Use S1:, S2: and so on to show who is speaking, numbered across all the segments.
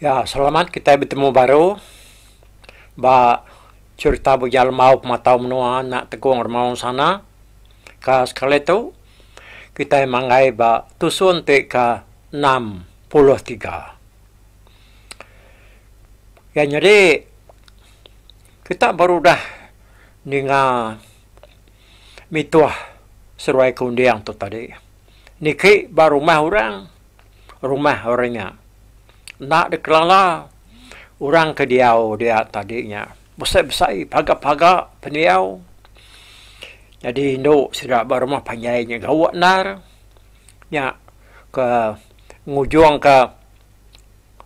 S1: Ya, selamat kitai betemu baru ba cherita Bujang Lembau Pematau Menua enda Tegong Remaung Sana. Ka sekali tu kitai manggai ba tusun ti ke enam puluh tiga. Ya nyadi kita baru udah ninga mituh seruai ke unding tu tadi. Niki ba rumah orang, rumah orang nya. Enda dikelala orang ke diau dia tadi nya. Besai-besai, paga-paga pendiau. Nyadi indu sida ba rumah panjai nya gawa endar. Nya ke ngujungka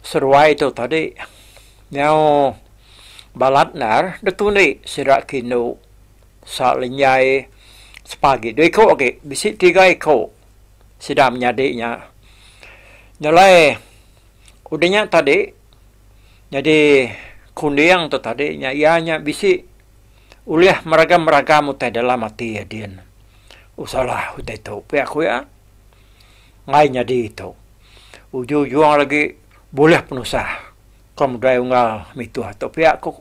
S1: seruai tu tadi. Nyau balat endar ditundi sida ke indu. Sa linjai sepagi dua iko agi bisi tiga iko sida menyadi nya nyelai udah nya tadi nyadi kunding tu tadi nya iya nya bisi ulih meragam meragam utai dalam ati iya din usalah utai tu pia aku iya ngai nyadi tu ujung ujung lagi bulih penusah ko modai unggal mituh tu pia aku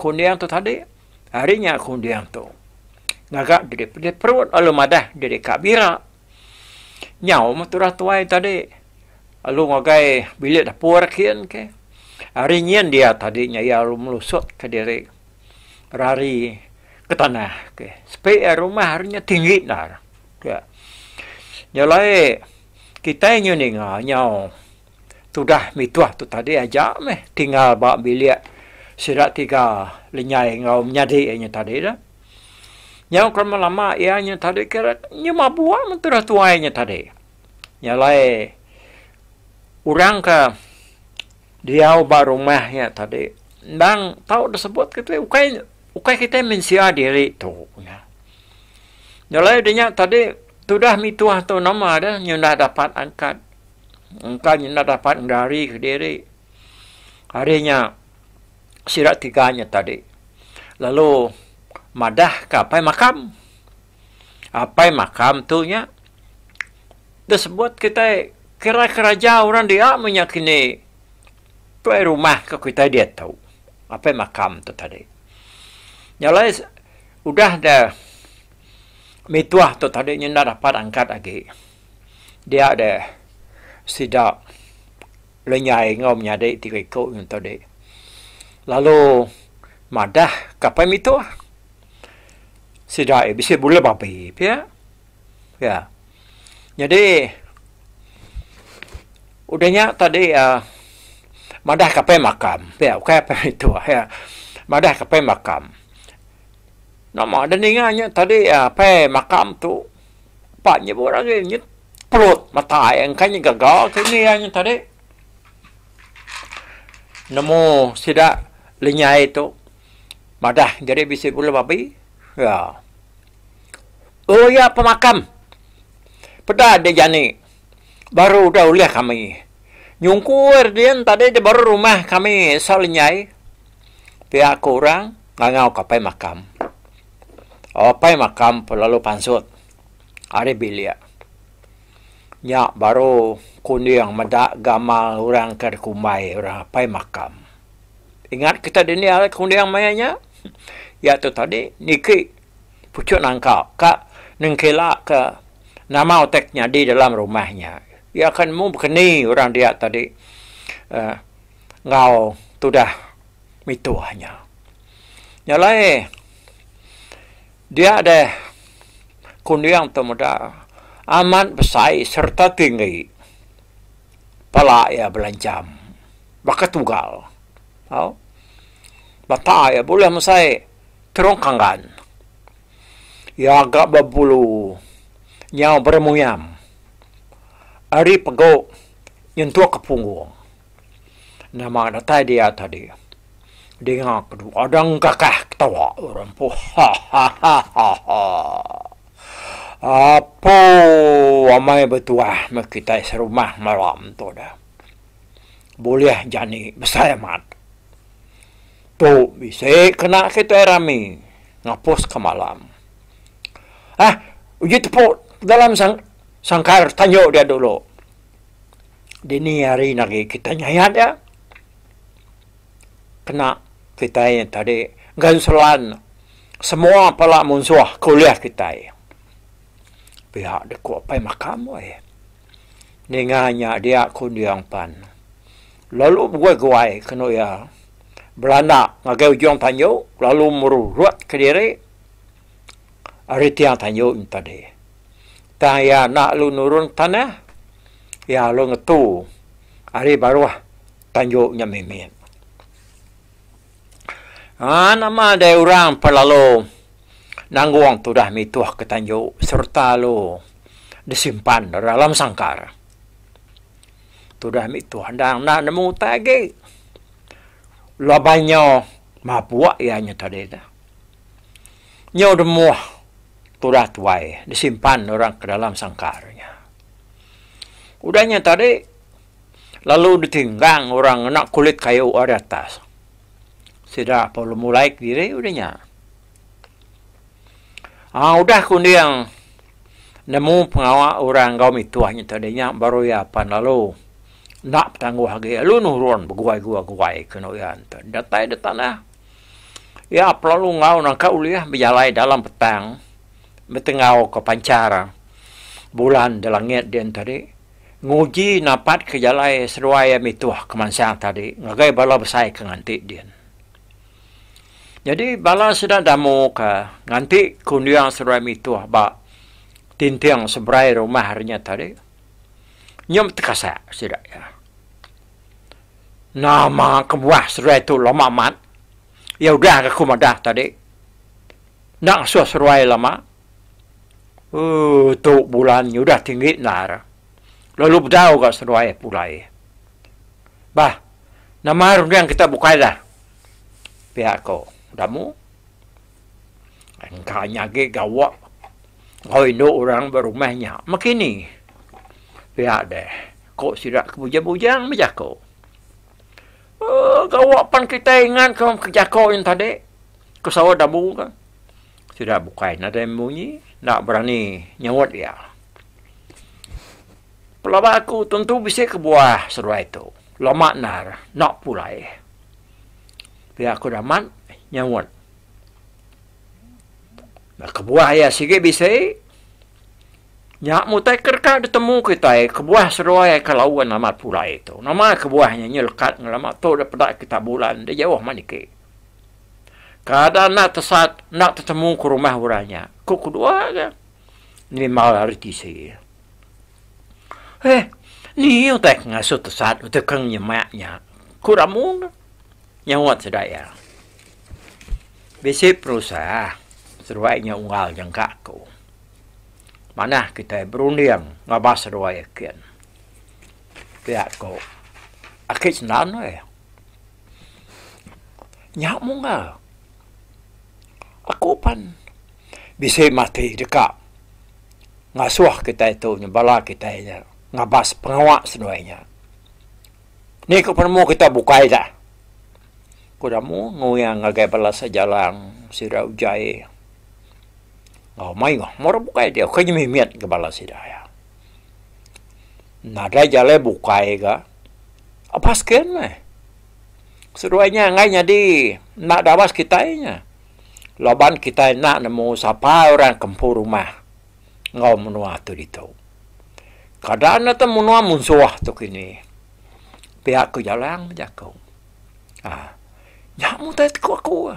S1: kunding tu tadi. Ari nya aku ending tu. Ngaga diri pedih perut lalu madah diri ka bira. Nyau meh tudah tuai tadi lalu ngagai bilik dapur kin ke. Ari nyin dia tadi nya iya lalu melusut ka diri rari ke tanah ke. Sepi iya rumah ari nya tinggi ndar. Nya alai kitai nyu ninga nyau. Tudah mituh tu tadi aja meh tinggal ba bilik sida tiga lenyai enggau menyadi iya nya tadi tu. Nyau ke lama lama iya nya tadi kira inya mabuk men tudah tuai nya tadi. Nya alai orang ke diau ba rumah nya tadi endang tau deh sebut keti ukai ukai kitai mensia diri tu nah. Nya alai nya tadi tudah mituh tu nama deh nyau enda dapat angkat. engka nyenda dapat ngegari kediri hari nya sida tiga nya tadi lalu madah ka apai makam apai makam tu nya da sebut kitai kira keraja orang dia meh nya kini tuai rumah ka kitai diatu apai makam tu tadi nya alai udah da mituah tu tadi nyenda dapat angkat agi. dia deh sida lenyai enggau menyadi tiga iku nyen tu dih. Lalu madah kapai mituh sida eh bisi bula babi pia. Ya. Nyadi udah nya tadi uhh madah kapai makam pia ukai apai mituh ya. Madah kapai makam. Nama deh ninga nya tadi apai makam tu. Pak nyebut agi nyet pelot mata ai engka nya gaga ke ngi iya nya tadi. Nemu sida lenyai tu madah jadi bisi bulu babi. Ya. Oh iya pemakam. Peda dia jani baru udah ulih kami. Nyungkur dia tadi dia baru rumah kami Sau Lenyai. Pia ku orang ngangau kapai makam. Apai makam pun lalu pansut ari bilik. Nya baru kunding meda gamal orang ke dikumbai orang apai makam. Ingat kita dini hari kunding maya nya? Iya tu tadi niki puchut nangka ka nengkela ke nama utai ke nyadi dalam rumah nya. Iya ke nemu bekeni orang dia tadi enggau tudah. mituh nya. Nya alai dia deh kunding tu meda amat besai sereta tinggi pala iya belanjam baka tugal tau mata iya bulih mesai terung kanggan iya ga bebulu nyau beremuyam ari pegu nyentuk ke punggung. Nama datai dia tadi. Dinga ke tu Adang Kakah ketawa orang empu. Apo amai betuah meh kitai serumah malam tu dah. Bulih jani besai amat. Tu bisi kena kitai rami ngapuska malam. Hah uji tepu dalam sangkar tanyu dia dulu. Dini hari enda lagi kitai nyayat iya. Kena kitai tadi ngenselan semua pala munsuh ke ulih kitai. Pia deh ku Apai Makam weh. Ninga nya dia ku Ende Ampan. Lalu beguai-guai kenu iya belanda ngagai ujung tanju lalu merurut kediri ari tiang tanju nya tadi. Tang iya enda lalu nurun tanah, iya lalu ngetu ari baruh tanju nya mimit. Haa nama deh orang pa lalu nanggung tudah mituhka tanju sereta lalu disimpan da dalam sangkar. Tudah mituh endang enda nemu utai agi laban nya mabuk iya nya tadi tu. Nyau remuh tudah tuai disimpan orang ke dalam sangkar nya. Udah nya tadi lalu ditinggang orang ngena kulit kayu ari atas. Sida pun lemulai kediri udah nya. Aa udah ke unding nemu pengawa orang enggau mituh nya tadi nya baru iya pan lalu enda betangguh agi lalu nurun beguai-guai-guai ke enda uyan tu. Datai da tanah. Iya pelalu enggau nangka ulih bejalai dalam petang betenggauka panchar bulan di langit din tadi nguji napatka jalai seduai iya mituh kemansang tadi ngagai bala besai ke nganti din. Nyadi bala sida damu ke nganti kunding seduai mituh ba tinting seberai rumah re nya tadi nyem tekasa sida iya. Nama kebuah seruai tu lama amat. Iya udah ga ku madah tadi. Enda ngasuh seruai lama. Ooh tu bulan nya udah tinggi endar. Lalu bedau ga seruai pulai. Bah nama runding kita bukai dah. Pia ko Damu. Engka nya agi gawa enggau indu orang ba rumah nya. Mekini pia deh, ku sida ke bujang-bujang bejako. Um gawa pan kitai ingat ke jako nya tadi, ku saut Abu ke. Sida bukai nadai munyi, enda berani nyaut iya. Pelaba aku tentu bisi kebuah seduai tu. Lama endar enda pulai. Pia ku Rahmat nyaut. Ba kebuah iya sigi bisi, nya mutai ke deka ditemu kitai kebuah seduai ai ke laun amat pulai tu. Nama kebuah nya nyelekat ngelama tu dek peda kita bulan enda jauh mah niki. Kada enda tesat enda tetemu ke rumah orang nya, ku kedua ke nimbal ari tisi. Heh, ni utai ke ngasuh tesat utai ke nyemak nya, ku Ramu nyaut sida iya. Bisi perusah seduai nya unggal nyengka aku. Manah kitai berunding ngabas seduai akin. Pia ku Aki Sendan ai. Nya munggal. Aku pan. bisi mati deka ngasuh kitai tu nya bala kitai nya ngabas pengawa seduai nya. Ni ku penemu kita bukai dah. Ku Damu nguing ngagai bala sejalang sida ujai enggau mayuh meh orang bukai dia ukai ngemimit ngagai bala sida iya. Nadai jalai bukai ga abas skin meh. Seduai nya enggai nyadi enda dabas kitai nya. laban kitai enda nemu sapa orang ke empu rumah enggau menua tu ditu. Kada enda tu menua munsuh tu kini. Pia aku Jalang bejaku. Um nya mun utai ku aku.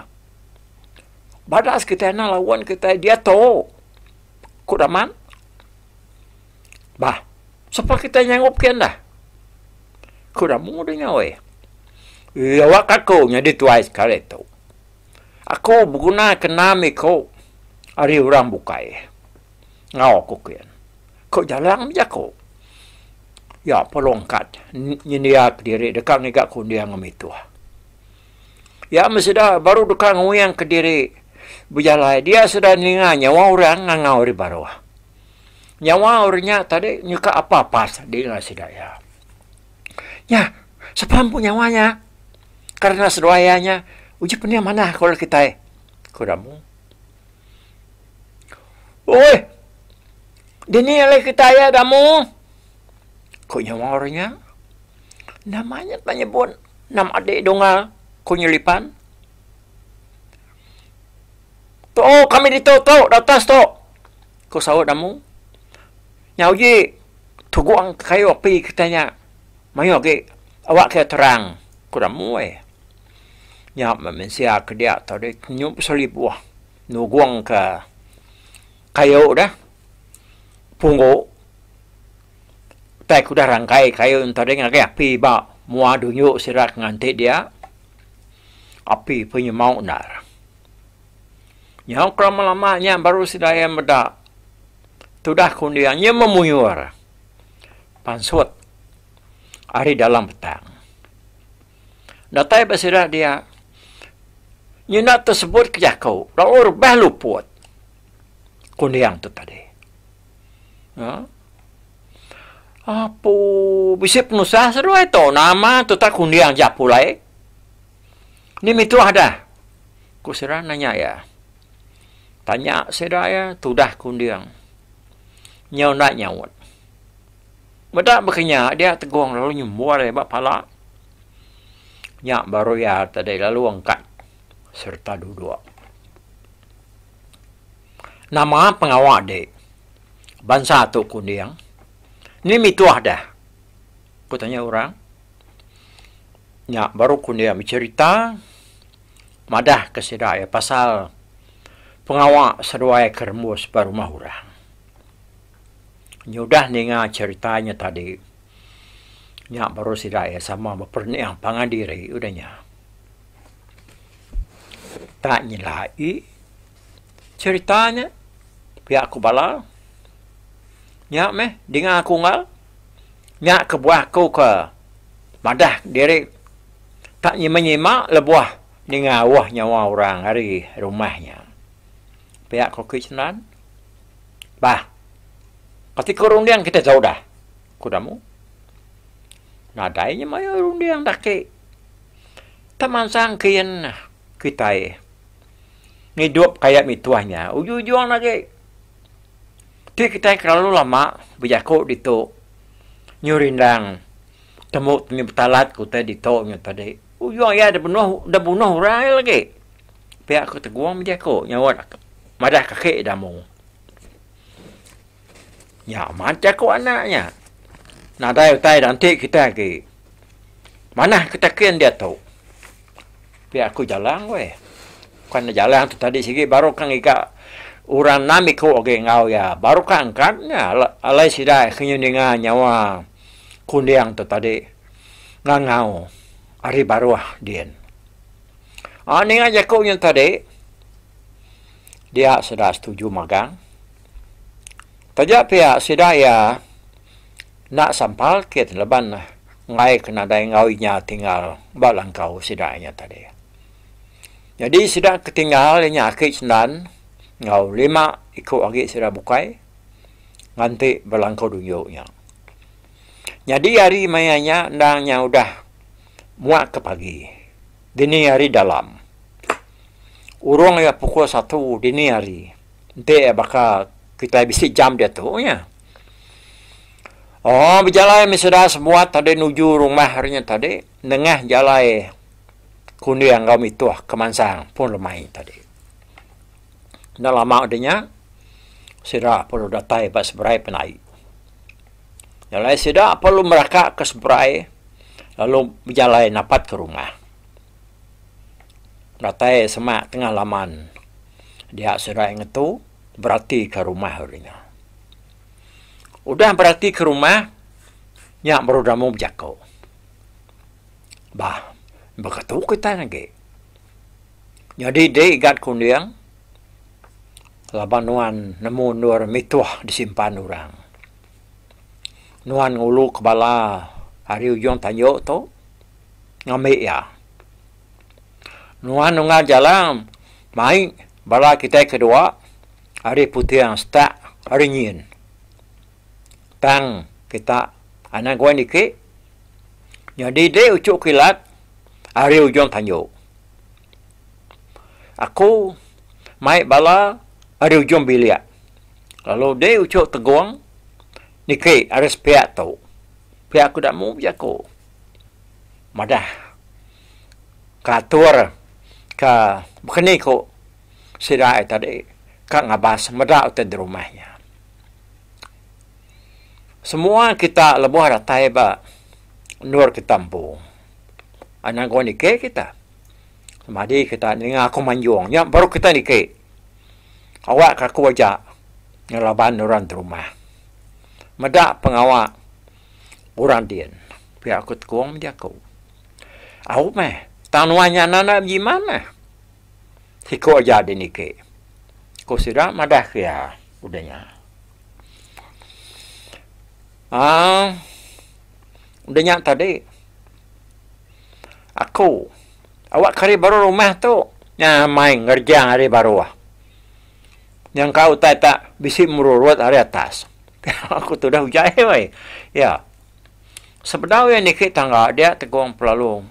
S1: Badas kitai enda lawan kitai diatu, ku Daman. Bah, sapa kitai nyangup kian dah? Ku Damu deh nya weh. Iya awak aku nyadi tuai sekali tu. Aku begunaka nam iku ari orang bukai. Enggau aku ke en. Ku Jalang bejaku. Iya pun longkat nyendiaka diri deka ngiga kunding mituh. Iya meh sida baru deka nguingka diri bejalai dia sida ninga nyawa orang ngangau ari baruh. Nyawa orang nya tadi nyeka apas-apas di ngagai sida iya. Nya, sapa empu nyawa nya? Kerna seduai iya nya, uji penting manah ke orang kitai, ku Damu. Oi, dini alai kitai iya, Damu? ku nya maul inya. Nama nya tau nyebut nama adi Dunga? ku nya Lipan. Too kami ditu tu, di atas tu, ku saut Damu. Nyau ji, Tugong kayu api kitai nya mayuh agi awak kitai terang, ku Ramoi. Nya meh mensia ke dia tau deh nyu pasal ibuh nugong ka kayu deh punggu tai ke udah rangkai kayu ento deh ngagai api ba mua dunyu sida ke nganti dia api penyemau endar. Nyau kelama lama nya baru sida iya meda tudah kunding nya memuyur pansut ari dalam petang. Datai ba sida dia nya enda tesebut ke jaku lalu rebah luput kunding tu tadi. Ha? Apu bisi penusah seduai tu nama tutak kunding ja pulai. Ni mituh dah? ku sida nanya iya. Tanya sida iya tudah kunding. Nyau enda nyaut. Meda baka nya dia Tegong lalu nyembul iya ba pala. Nya baru iya tadi lalu angkat sereta duduk. Nama pengawa dik? Bansa tu kunding. Ni mituh dah? ku tanya orang. Nya baru ku dia becherita madah ke sida iya pasal pengawa seduai ke rembus ba rumah orang. Nyudah ninga cherita nya tadi, nya baru sida iya sama beperening pangan diri udah nya. Tak nyelai. Cherita nya pia aku bala. Nya meh dinga aku enggau. Nya kebuah aku ke madah diri tak nyima nyima lebuh ninga auh nyawa orang ari rumah nya. Pia ko Kui Sendang. Bah. Kati ko runding kita tau dah. Ku Damu. Nadai nya mayuh runding dah ki. Temansang kian kitai. ngidup ka iya mituh nya ujung-ujung agi ti kitai kelalu lama bejaku ditu nyu rindang temu tini betalat ku utai ditu nyu tadi ujung iya da benuh da bunuh orang iya lagi pia ku tegong bejaku nyaut madah ke aki da amung. Nya amat jaku anak nya. Nadai utai dah enti kitai agi manah ke takin diatu. Pia aku Jalang weh. Ku anak Jalang tu tadi sigi baru ka ngiga orang enam iku agi enggau iya. Baru ka angkat nya alai sida ke nyuninga nyawa kunding tu tadi ngangau ari baruh din. Aaa ninga jaku nya tadi dia sudah setuju magang. Taja pia sida iya enda sampal kin laban ngaika nadai enggau inya tinggal ba langkau sida iya tadi. Jadi sida ke tinggal inya aki sendan enggau lima iku agi sida bukai nganti ba langkau dunyo nya. Nyadi hari maya nya endang nya udah muak ke pagi dini hari dalam. Urung iya pukul satu dini hari. Enti iya baka kitai bisi jam diatu nya. Oh bejalai meh sida sebuat tadi nuju rumah ari nya tadi nengah jalai Kunir enggau Mituh ke mansang pun lemai tadi. Enda lama udah nya sida perlu datai ba seberai penai. Jalai sida perlu meraka ke seberai lalu bejalai napat ke rumah. datai semak tengah laman dia serai ngetu beratika rumah ri nya. Udah beratika rumah nya baru demu bejako. Bah beketu kitai agi. Nyadi dei igat kunding laban nuan nemu endur mituh disimpan orang. Nuan ngulu ke bala ari ujung tanjok tu. ngambi iya. Nuan Nunggal Jalang mai bala kitai kedua ari Puting Setak ari nyin. Tang kita anang guai niki nyadi deh uchu kilat ari ujung tanju. Aku mai bala ari ujung bilik lalu deh uchu tegung niki ari sepiak tu. Pia ku Damu, jaku. madah kelatur ke bekeni ku sida ai tadi ka ngabas meda utai di rumah nya. Semua kita lebuh datai ba endur kita empu enda engku niki kita semadi kita ninga aku manjung nya baru kita niki awakka aku aja ngelaban orang ti rumah meda pengawa. Orang din, pia aku tekong meh jaku. Au meh, tang nuan nya nanak bejiman meh. Siko aja diniki, ku sida madahka iya udah nya. Aaa, udah nya tadi, aku awakka ari baruh rumah tu, nya mai ngerejang ari baruh. Nyangka utai tak bisi merurut ari atas. Aku tudah uja eh wei. Ya. Sebedau iya niki tangga dia tegong pelalu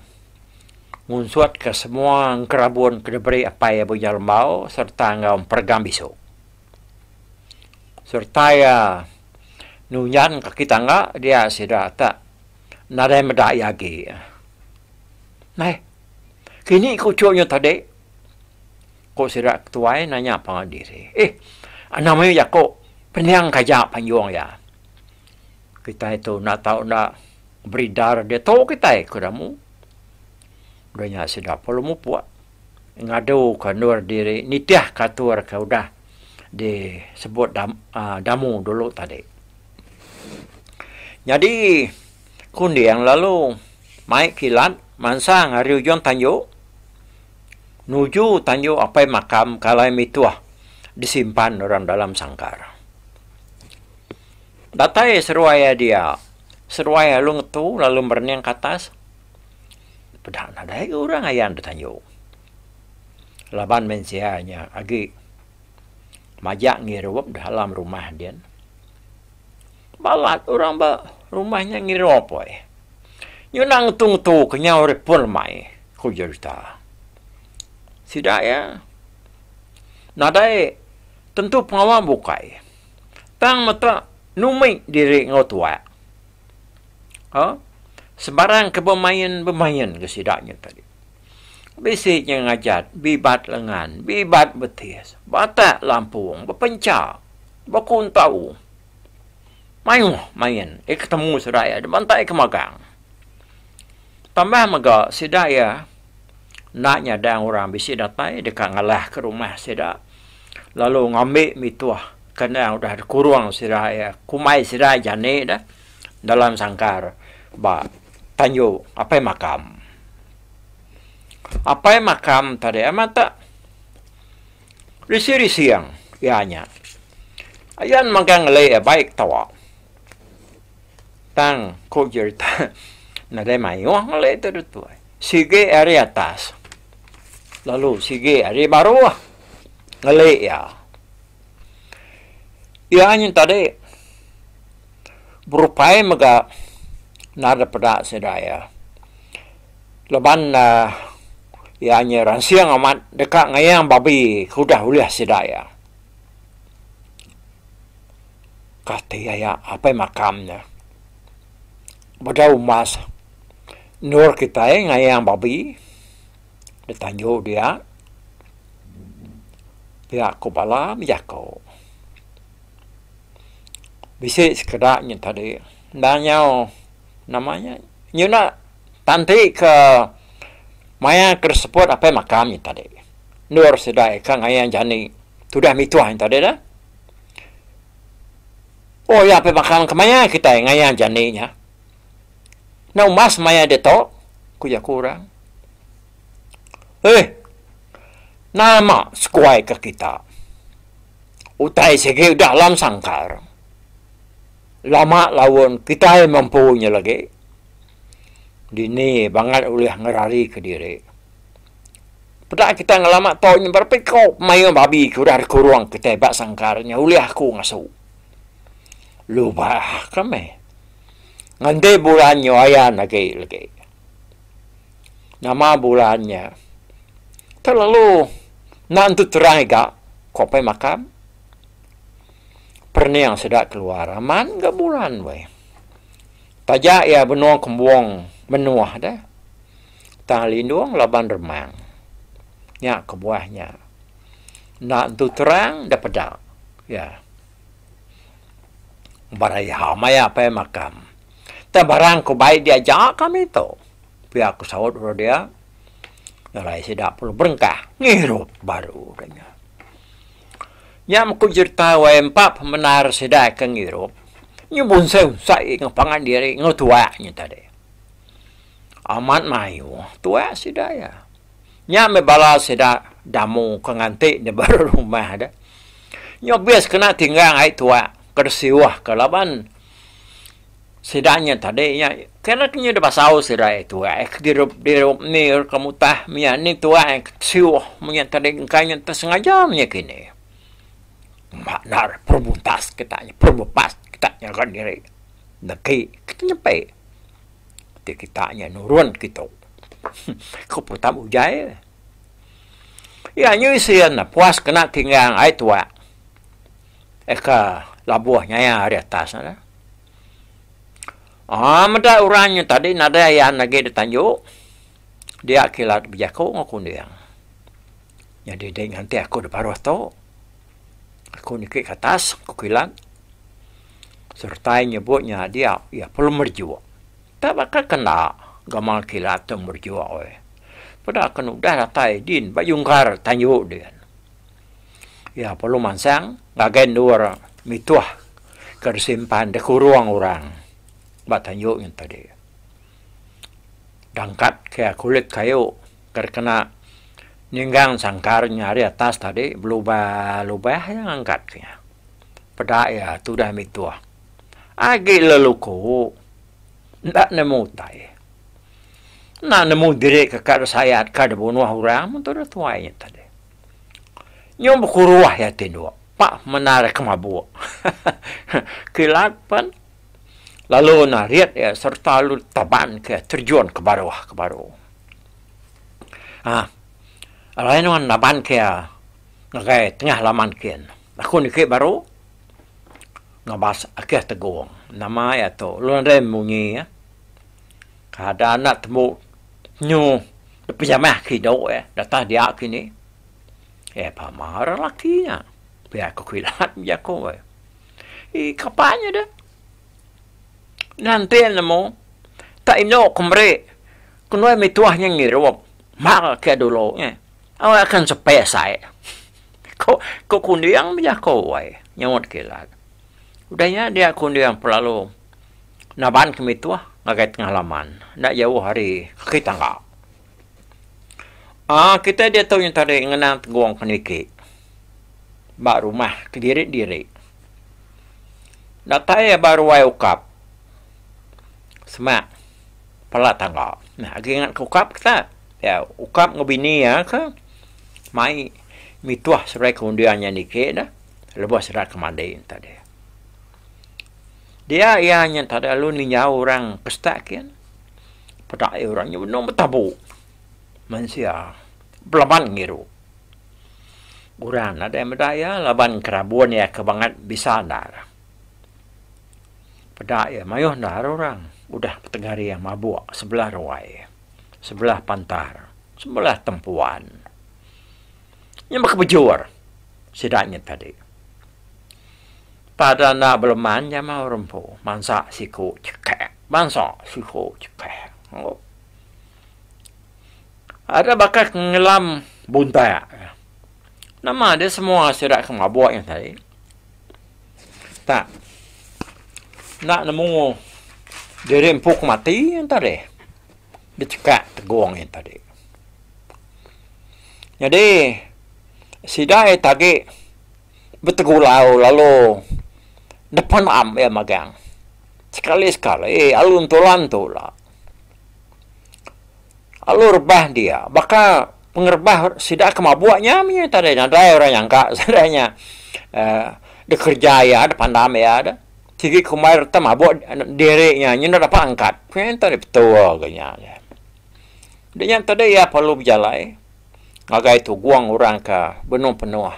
S1: ngunsut ke semua engerabun ke diberi apai iya Buja Lembau serta enggau emperegang bisu. Serta iya nunjang kaki tangga dia sida tak nadai meda iya agi. Meh. Kini ku uchu nyu tadi. Ku sida ketuai nanya pangan diri. Ih, anang mayuh jaku pening ke aja panjung iya. Kitai tu enda tau enda beridar diatu kitai ku Ramu. Udah nya sida pun lalu mupuk ngadu ke endur diri nitih ke atur ke udah disebut Damu dulu tadi. Nyadi kunding lalu mai kilat mansang ari ujung tanjung. nuju tanjung apai makam kalai mituh disimpan orang dalam sangkar. Datai seruai iya dia, seruai alu ngetu lalu merening ke atas, peda nadai agi orang ayan da tanjung. Laban mensia nya agi majak ngirup dalam rumah din. Balat orang ba rumah nya ngira poi. Nyunak ngetu-ngetu ke nyau ri pul mai, ku Jeruta. Sida iya nadai tentu pengawa bukai tang meta numit diri enggau tuak. Ha, sebarang ke bemain-bemain ke sida nya tadi. Bisi nya ngajat bibat lengan, bibat betis, batak lampung, bepenca, bekuntau. Mayuh main iya ketemu sida iya dibantai ke magang. Tambah mega sida iya enda nyadang orang bisi datai deka ngalah ke rumah sida lalu ngambi mituh kandang udah dikurung sida iya kumbai sida jani dah dalam sangkar ba tanju Apai Makam. Apai Makam tadi amat tak. Rising-rising iya nya. Ayan megang ngelai iya baik tawa. Tang ku jerita nadai mayuh ngelai tu ditu. Sigi ari atas lalu sigi ari baruh ngelai iya. Iya nya tadi berupai mega nadai peda sida iya. Laban iya nya ransing amat deka ngayang babi ke udah ulih sida iya. Kati aya apai makam nya bedau mas endur kitai ngayang babi di tanju dia. Pia ku bala bejaku. Bisi sekeda nya tadi enda nyau nama nya nyuna. Tan ti ke maya ke disebut apai makam nya tadi. Endur sida eka ngayan jani tudah mituh nya tadi dah. Oh iya apai makam ke maya kitai ngayan jani nya. Enda umbas maya ditu, ku jaku orang. Eih, nama seguai ke kita. Utai sigi udah alam sangkar. Lama laun kitai mempu nya lagi, dini bangat ulih ngerarika diri. Peda kitai ngelama tau nya berapa iku mayuh babi ke udah dikurung kitai ba sangkar nya ulih aku ngasu. Lubah ka meh. Nganti bulan nya ayan agi lagi. Nama bulan nya terlalu enda entu terai ga, ku Apai Makam. Perning seda keluar aman ga buran weh. Taja iya benung kembung menuh deh. Tang lindung laban remang. Nya kebuah nya. Enda entu terang enda peda. Ya. Bara iya maya apai makam. Tang barang ko bai diaja kami to. Pia ko saut oro dia. Nalai sida perlu berengkah ngirup baru nya. Nya mku jereta wai empa pemendar sida ke ngirup nyu bunsai-unsai enggau pangan diri enggau tuak nyu tadi. Amat mayuh tuak sida iya. Nya meh bala sida damu ke nganti di baruh rumah deh. Nyu abis kena tinggang ai tuak ke disiuh ke laban. Sida nya tadi nya kena ke nyudah basau sida ai tuai ai ke dirup dirup ni ke mutah mia ni tuai ai ke siuh menya tadi engka nya ntah sengaja menya kini. Enda nar perubuntas kita nya perubupas kita nyaga diri negi kita nyampai ti kita nya nurun ke tu ku putak ujai eh. Iya nya isi enda puas kena tinggal ai tuak. eka labuh nyaya ari atas nya lah. Aa meda orang nya tadi nadai ayan agi di tanju, dia kilat bejaku enggau aku ending. Nyadi dei nganti aku di paruh tu, aku niki ke atas, aku kilat sereta nyebut nya dia iya perlu merejuk. Nta baka ke enda gamal kilat tu merejuk weh. Peda ke nudah datai din ba jungkar tanju din. Iya perlu mansang ngagai endur mituh ke disimpan dikurung orang ba tanjung nya tadi. Dangkat ke kulit kayu ke dikena ninggang sangkar nya ari atas tadi belubah-lubah iya ngangkat ke nya. Peda iya tudah mituh. Agi leluku enda nemu utai. Enda nemu diri ke ka disayat ka dibunuh orang mun tudah tuai nya tadi. Nyau bekuruh iya ti dua, pak mendar ke mabuk. Kilat pen lalu narit iya sereta lalu taban ke iya terjun ke baruh ke baru. Aah alai nuan naban ke iya ngagai tengah laman kin. Aku niki baru ngabas akih tegong. Nama iya tu lalu nadai munyi. Kada anak tembu nyu depejamah kido eh datah dia kini. Eh pama orang laki nya. Pia ko kilat bejako eh. Ih kapa nya deh. Ngantin nemu ka endo ko meri kenuan mituah nya ngirup mal ke dulu eh. Au akan sepe sai. Ko ko kunding bejako eh nyaut kilat. Udah nya dia kunding pelalu. Naban kami tuah ngagai tengah laman, enda jauh ari kaki tangga. Aa kitai diatu nyengka diri ngenang tegong ke niki ba rumah kediri-diri. Datai iya ba ruai ukap semak pala tangga. Nah agi ingat ke ukap ke tak? Iya, ukap enggau bini iya ke mai mituh sebagai ke undian nya niki dah lebuh sida ke mandi enta deh. Dia iya nya tada lalu ninjau orang pesta kian. Peda ai orang nya benung betabu. Mensia belaban ngiru. Orang nadai meda iya laban kerabun iya ke bangat bisa endar. Peda iya mayuh endar orang udah petegari iya mabuk sebelah ruai, sebelah pantar, sebelah tempuan. Nya baka bejur sida nya tadi. Pada enda beleman jama orang empu, mansa siku cekak, mansa siku cekak. Aduh. Ada baka ke ngelam buntak. Nama dia semua sida ke mabuk nya tadi. Tak. Enda nemu diri empu ke mati nya tadi. Dicekak tegong nya tadi. Nyadi sida ai tagi betegulau lalu depan am iya magang. Sekali-sekali alun tulan tu la alu rebah dia baka pengerebah sida ke mabuk nya mih nya tadi nadai orang nyangka sida nya aaa dekereja iya de pandam iya de sigi kumbai reta mabuk diri nya nyen enda dapat angkat. Ku iya tadi betul ku nya. Nya tadi iya perlu bejalai. ngagai tu guang orang ka benung penuh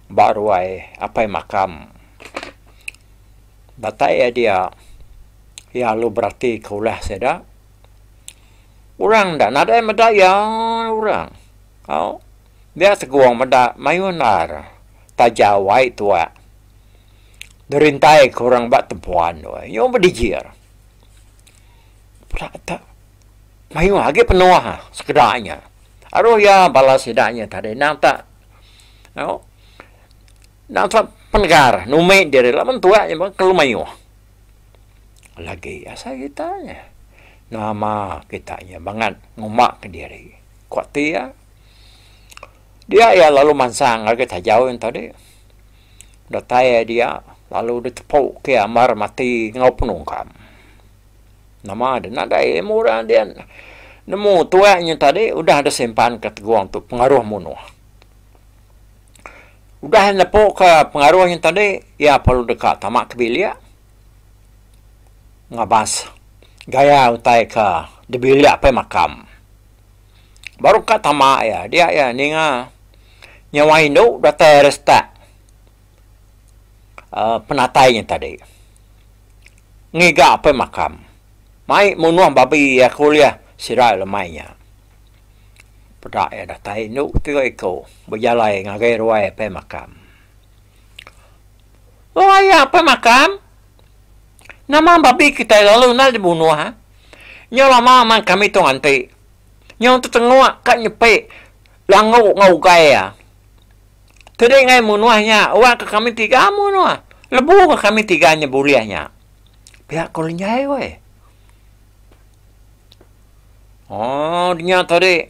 S1: ba ruai apai makam. Datai iya dia iya alu berati ka ulah sida. Orang enda nadai meda iya orang tau dia seguang meda mayuh endar taja wai tuak dirintai ka orang ba tempuan tu nyau bedijir. Peda tek. mayuh agi penoa sekeda nya aroh iya bala sida nya tadi endang tak au endang tak penegar numi diri laban tuak nya meh kelu mayuh lagi asai kita nya nama kita nya bangat nguma ka diri ku ti iya dia iya lalu mansang ngagai tajau nya tadi datai iya dia lalu ditepu ke amar mati enggau penungkam. Nama deh nadai ilmu orang dia nemu tuai nya tadi udah deh simpan ke tegung tu pengaruh munuh. Udah nepu ke pengaruh nya tadi iya perlu deka tama ke bilik ngabas gaya utai ke dibilik apai makam. Baru ka tama iya dia iya ninga nyawa indu datai retak. penatai nya tadi ngiga apai makam mai munuh babi iya ku ulih sida iya lemai nya peda iya datai indu tiga iku bejalai ngagai ruai apai makam o iya apai makam nama babi kitai lalu enda lagi dibunuh ah nya lama meh kami tu nganti nyau tetengok ka nyepi langu enggau ugai iya Keli ngai munuh nya, uwa ka kami tiga munuh. Lebu ka kami tiga nya bulih nya. Pia ko Lenjai weh. Oh, nya tadi.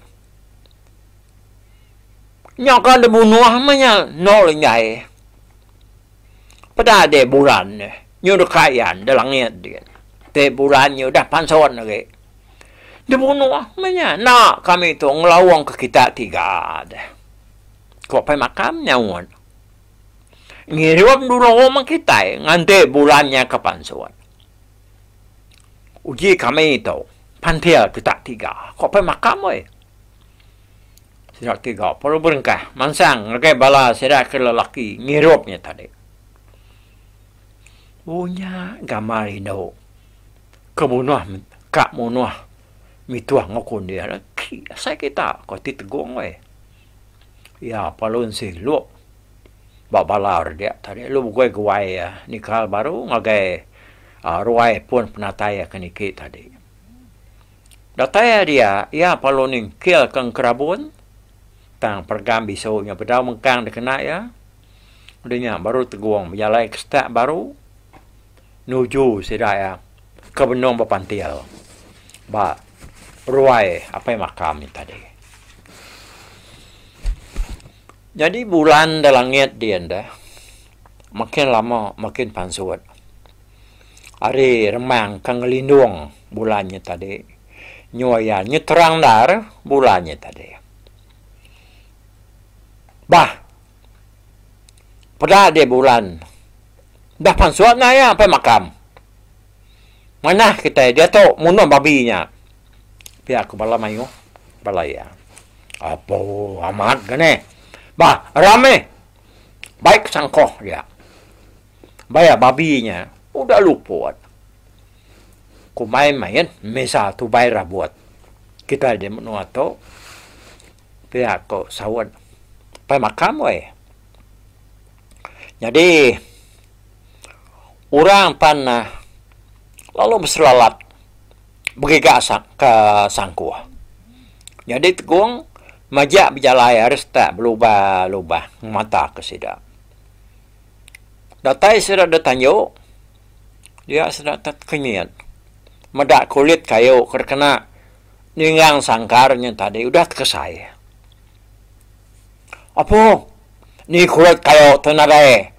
S1: Nya ka de munuh meh nya no Lenjai. Peda de buran ne. Nyu de kayan de langit de. Te buran nyu udah panson agi. De munuh meh nya. Enda kami tu ngelaung ke kita tiga de. Ko Pai Makam nyaut. Ngirup dulu rumah kitai nganti bulan nya ke pansut. Uji kami tu pantil kita tiga, ko Pai Makam weh. Sida tiga baru berengkah mansang ngagai bala sida ke lelaki ngirup nya tadi. Oh nya gamal indu ke munuh ka munuh mituh enggau kundir. Asai kita, ko ti tegong weh. Iya Palun Silup ba balar dia tadi lu begoi guai iya nikal baru ngagai aaa ruai pun penatai iya ke niki tadi. Datai ari iya, iya Palun Ningkil ke Engkerabun tang perengam bisu nya bedau mengkang dikena iya. Udah nya baru Tegong bejalai ke stat baru nuju sida iya Ke benung bepantil ba ruai apai maka ami tadi. Nyadi bulan da langit di enda makin lama makin pansut. Ari remang ke ngelindung bulan nya tadi nyua iya nyeterang endar bulan nya tadi. Bah Peda deh bulan. Udah pansut nah iya empai makam. Manah kitai diatu munuh babi nya. Pia ku bala mayuh bala iya. Apo amat ga neh. Bah ramai bai ke sangkoh dia. Bai iya babi nya udah luput. Kumbai mayuh misa tubai rabut. Kitai deh menua tu. Pia ko saut pai makam woi. Nyadi orang pan lalu beselalat begiga ke sangkuh. Nyadi tegong majak bejalai ari setak belubah-lubah ngemata ke sida. Datai sida deh tanju dia sida tet kenyit meda kulit kayu ke dikena. Ningang sangkar nya tadi udah tekesai. Apo ni kulit kayu tu nadai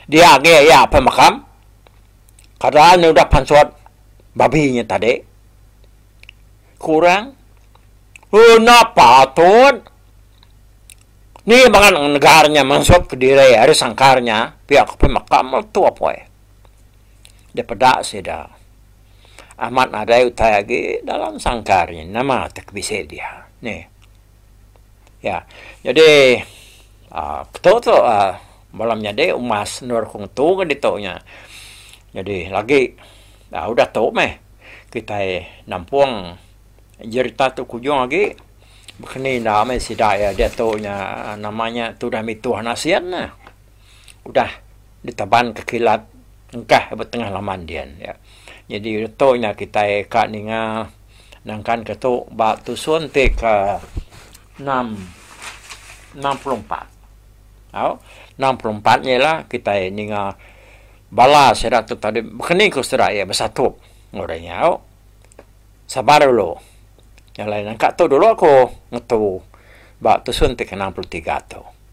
S1: dia agi iya apai makam. Kada nya udah pansut babi nya tadi. Ku orang, Enda patut. Ni bangat negar nya mansutka diri ari sangkar nya pia ka apai makam tu apai. dipeda sida. Amat nadai utai agi dalam sangkar nya nama ti ke bisi dia nih. Ya, jadi aaa ketu tu aaa bala menyadi umas endur aku ngetu ke ditu nya. Jadi lagi aaa udah tu meh kitai nampung jerita tu ke ujung agi baka ni enda meh sida iya ditu nya nama nya Tudah Mituh Nasin. udah ditabanka kilat engkah ba tengah laman dian nya. Nyadi reto nya kitai ka ninga nangkanka tu ba tusun ti ke enam enam puluh empat. Au, enam puluh empat nya ialah kitai ninga bala sida tu tadi bekeni ku sida iya besatu ngagai inya. Au, sabar dulu. Nya alai nangka tu dulu aku ngetu ba tusun ti ke enam puluh tiga tu.